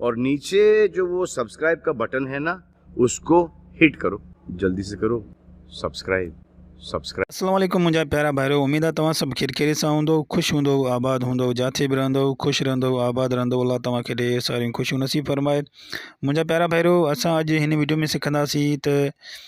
اور نیچے جو وہ سبسکرائب کا بٹن ہے نا اس کو ہٹ کرو جلدی سے کرو سبسکرائب سبسکرائب السلام عليڪم منهنجا پيارا ڀائرو اميد آ توهان سڀ خير خيريت سان هوندؤ خوش هوندؤ آباد هوندؤ جاٿي به رهندؤ خوش رهندؤ آباد رهندؤ الله توهان کي ڍير ساريون خوشيون نصيب فرمائي منهنجا پيارا ڀائرو اسان اڄ هن ويڊيو ۾ سکنداسين ته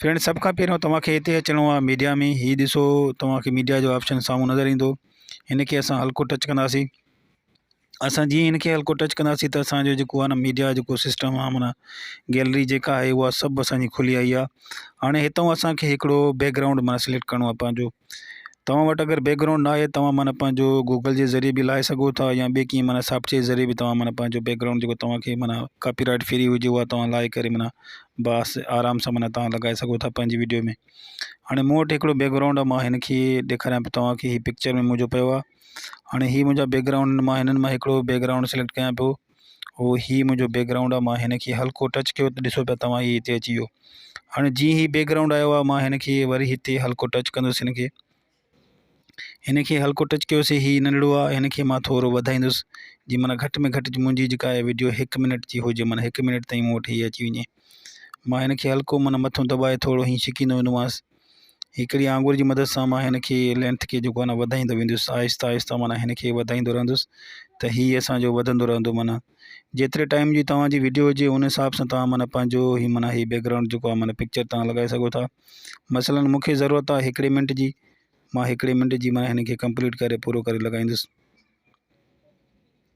فرينڊ سڀ کان پهريون توهان کي هتي اچڻو آهي ميڊيا ۾ هي ڏسو توهان کي ميڊيا جو آپشن سامهون نظر ايندو هن کي اسان هلڪو ٽچ ڪنداسين اسان جيئن هن کي هلڪو ٽچ ڪنداسين ته اسان جو جيڪو آهي ميڊيا جيڪو سسٽم آهي منا گيلري جيڪا آهي هو سڀ اسان جي کلي آئي آهي هاڻي هتو اسان کي هڪڙو بيڪ گرائونڊ منا سليڪٽ ڪرڻو آهي پنهنجو توهان وٽ اگر بيڪ گرائونڊ نه آهي توهان معنيٰ پنهنجو گوگل جي ذريعي به لائي سگهو ٿا يا ٻي ڪنهن معنيٰ سافٽ ويئر ذريعي به توهان معنيٰ پنهنجو بيڪ گرائونڊ جيڪو توهان کي معنيٰ ڪاپي رائيٽ فري هجي اها توهان لائي ڪري معنيٰ باس آرام سان معنيٰ توهان لڳائي سگهو ٿا پنهنجي ويڊيو ۾ هاڻي مون وٽ هڪڙو بيڪ گرائونڊ آهي مان هن کي ڏيکاريان پيو توهان کي هي پڪچر ۾ منهنجو پيو آهي هاڻي هي منهنجا بيڪ گرائونڊ مان هنن مان هڪڙو بيڪ گرائونڊ سليڪٽ ڪيان پيو هو هي منهنجو بيڪ گرائونڊ آ مان هن کي هلڪو ٽچ ڪيو ته ڏسو پيا توهان هي هتي اچي ويو هاڻي جيئن هي بيڪ گرائونڊ آيو آ مان هن کي وري هتي هلڪو ٽچ ڪندس هن کي هن کي هلڪو ٽچ ڪيوسي هي ننڍڙو آ هن کي مان ٿورو وڌائيندس جي معنی گهٽ ۾ گهٽ منهنجي جيڪا آهي ويڊيو هڪ منٽ جي هجي معنی هڪ منٽ تائين مون وٽ هي اچي وڃي مان هن کي هلڪو معنی مٿو دٻائي ٿورو هي ڇڪيندو ويندومانس هڪڙي آڱر جي مدد سان مان هن کي لينٿ کي جيڪو آهي وڌائيندو ويندس آهستي آهستي معنيٰ هن کي وڌائيندو رهندس ته هي اسانجو وڌندو رهندو معنيٰ جيتري ٽائيم جي توهانجي وڊيو هجي ان حساب سان توهان معنيٰ پنهنجو هي معنيٰ هي بيڪگرائونڊ جيڪو آهي معنيٰ پڪچر توهان لڳائي سگهو ٿا مثلا مون کي ضرورت آهي هڪڙي منٽ جي مان هڪڙي منٽ جي معنيٰ هن کي ڪمپليٽ ڪري پورو ڪري لڳائيندس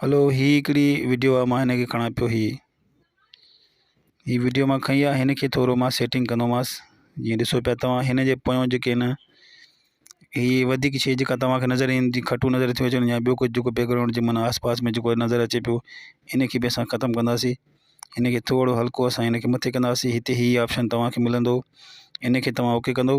هلو هي هڪڙي وڊيو آ مان هن کي کڻا پيو هي هي وڊيو مان کڻي آ هن کي ٿورو مان سيٽنگ ڪندوماس جيئن ڏسو پيا توهان هن جي پويون جيڪي هن هي وڌيڪ شي جيڪا توهان کي نظر ايندي کٽو نظر ٿيو اچن يا ٻيو ڪجهه جيڪو بيڪگرائونڊ جي معنيٰ آس پاس ۾ جيڪو نظر اچي پيو هن کي به اسان ختم ڪنداسي هن کي ٿورو هلڪو اسان هن کي مٿي ڪنداسي هتي هي آپشن توهان کي ملندو هن کي توهان اوڪي ڪندو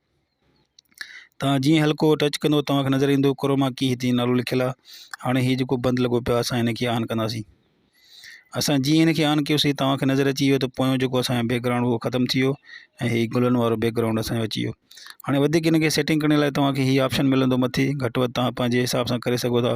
توهان جيئن ئي هلڪو ٽچ ڪندو توهان کي نظر ايندو ڪروما ڪي هتي نالو لکيل آهي هاڻي هي جيڪو بند لڳو پيو آهي اسان هن کي آن ڪنداسين اسان جيئن هن کي آن ڪيوسين توهان کي نظر اچي ويو ته پويون جيڪو اسانجو بيڪگرائونڊ هو ختم ٿي ويو ۽ هي گلن وارو بيڪگرائونڊ اسانجو اچي ويو هاڻي وڌيڪ هن کي سيٽنگ ڪرڻ لاء توهان کي هي آپشن ملندو مٿي گهٽ وڌ توهان پنهنجي حساب سان ڪري سگهو ٿا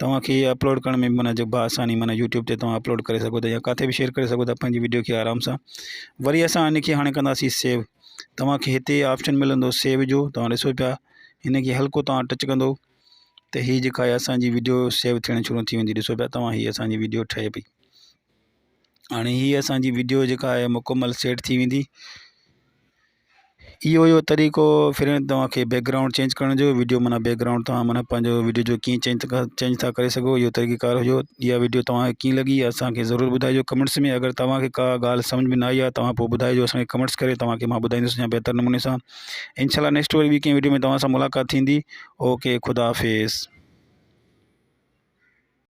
توهان کي اپلوڊ ڪرڻ ۾ معنيٰ جو بآساني معنيٰ يوٽيوب تي توهان اپلوڊ ڪري سگهو ٿا يا ڪاٿي به شيئر ڪري سگهو ٿا پنهنجي وڊيو کي آرام سان وري اسان ان کي هاڻي ڪنداسين سيو توهان کي هتي آپشن ملندو سيو جو توهان ڏسو پيا هن کي هلڪو توهان ٽچ ڪندو ته هي جيڪا آهي اسانجي وڊيو سيو ٿيڻ شروع ٿي ويندي ڏسو پيا توهان هي اسانجي وڊيو ٺهي پئي هاڻي هي اسانجي وڊيو جيڪا آهي مڪمل سيٽ ٿي ويندي اهو اهو طريقو فرينڊ توهان کي بيڪ گرائونڊ چينج ڪرڻ جو ويڊيو معنيٰ بيڪ گرائونڊ توهان معنيٰ پنهنجو ويڊيو جو ڪيئن چينج ٿا چينج ٿا ڪري سگهو اهو طريقه ڪار هجو اها ويڊيو توهان کي ڪيئن لڳي اسانکي ضرور ٻڌائجو ڪمينٽس ۾ اگر توهان کي ڪا ڳالهه سمجهه ۾ نه آئي آهي توهان پوء ٻڌائجو اسانکي ڪمينٽس ڪري توهان کي مان ٻڌائيندس يا بهتر نموني سان انشاء الله نيڪسٽ وري ٻي ڪنهن ويڊيو ۾ توهان سان ملاقات ٿيندي اوڪي خدا حافظ